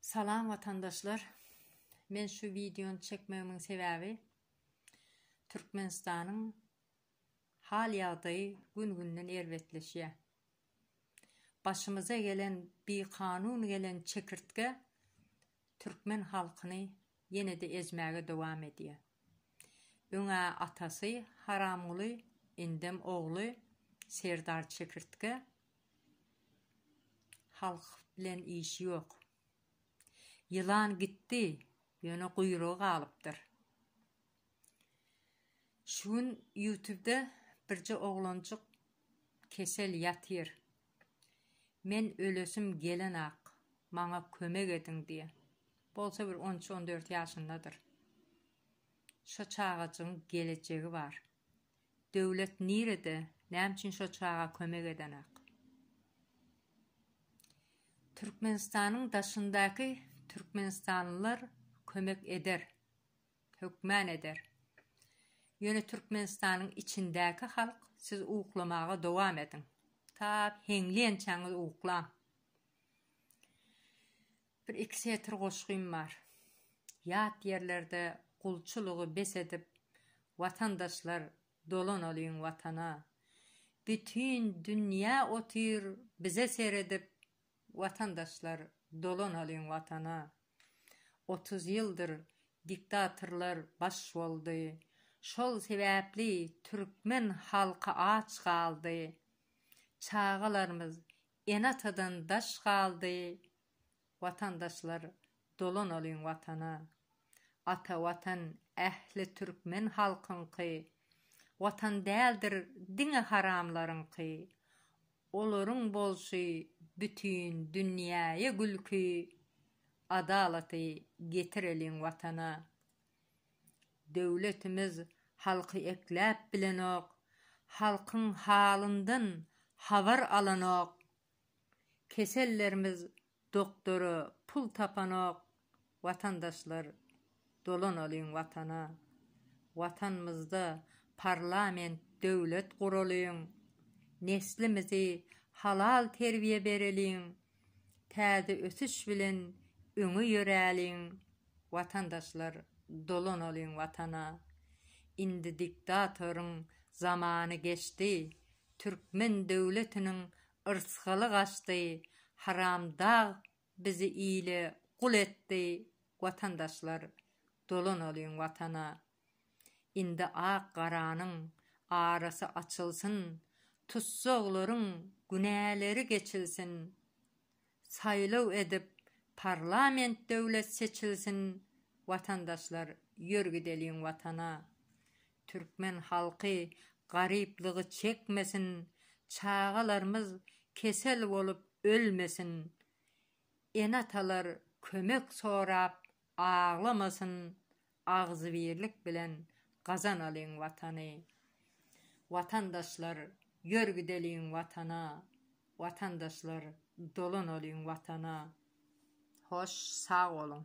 Salam watandaşlar. Men şu wideony çekmegimiň sebäbi Türkmenistanyň hal ýagdaýy gün-günden erbetleşýär. Başymyza gelen bikanun gelen çekirtge türkmen halkyny ýene-de ezmäge dowam edýär. Öň-ä atasy Haramguly, indem ogly Serdar çekirtge Halk bilen işi ýok. Ýylan gitdi, ýöne guýrugy galypdyr. Şu gün ýutubda birje oglanjyk kesel ýatyr. Men ölesim gelenok, maňa kömek ediň diýýä. Bolsa bir on üç-on dört ýaşyndadyr. Şo çagajygyň gelejegi bar. Döwlet nirede näme üçin şo çaga kömek edenak. Türkmenistanyň daşyndaky Türkmenistanlylar kömek eder. Hökman eder. Ýöne Türkmenistanyň içindäki halk siz uklamaga dowam ediň. Ta heňleýänçäňiz uklaň. Bir iki setir goşgym bar. Ýat ýerlerde gulçulygy bes edip watandaşlar dolanalyň watana. Bütin dünýä otyr bize seredip watandaşlar dolanalyň watana. Otuz ýyldyr diktatorlar baş boldy. Şol sebäpli türkmen halky aç galdy. Çagalarymyz Ene-atadan daş galdy watandaşlar dolanalyň watana. Ata watan ähli türkmen halkyňky watan däldir diňe haramlaryňky. Olaryň bolşy bütin dünýäýe gülki adalaty getireliň watana. Döwletimiz halky ekläp bilenok, halkyň halyndan habar alanok. Kesellerimiz doktora pul tapanok, watandaşlar dolanalyň watana. Watanymyzda parlament döwlet guralyň, neslimizi halal terbiýe bereliň. Täze ösüş bilen öňe ýöräliň watandaşlar dolanalyň watana indi diktatoryň zamany geçdi türkmen döwletiniň yrsgaly gaçdy haramdag bizi ile gul etdi watandaşlar dolanalyň watana. Indi ak-garanyň arasy açylsyn, tussaglaryň günäleri geçilsin. Saýlaw edip parlament döwlet seçilsin Watandaşlar ýör gideliň watana. Türkmen halky garyplygy çekmesin, çagalarmyz kesel bolup ölmesin. Ene-atalar kömek sorap aglamasyn Agzybirlik bilen gazanalyň Watany! Watandaşlar, ýör gideliň Watana! Watandaşlar, dolanalyň Watana! Hoş, sag boluň!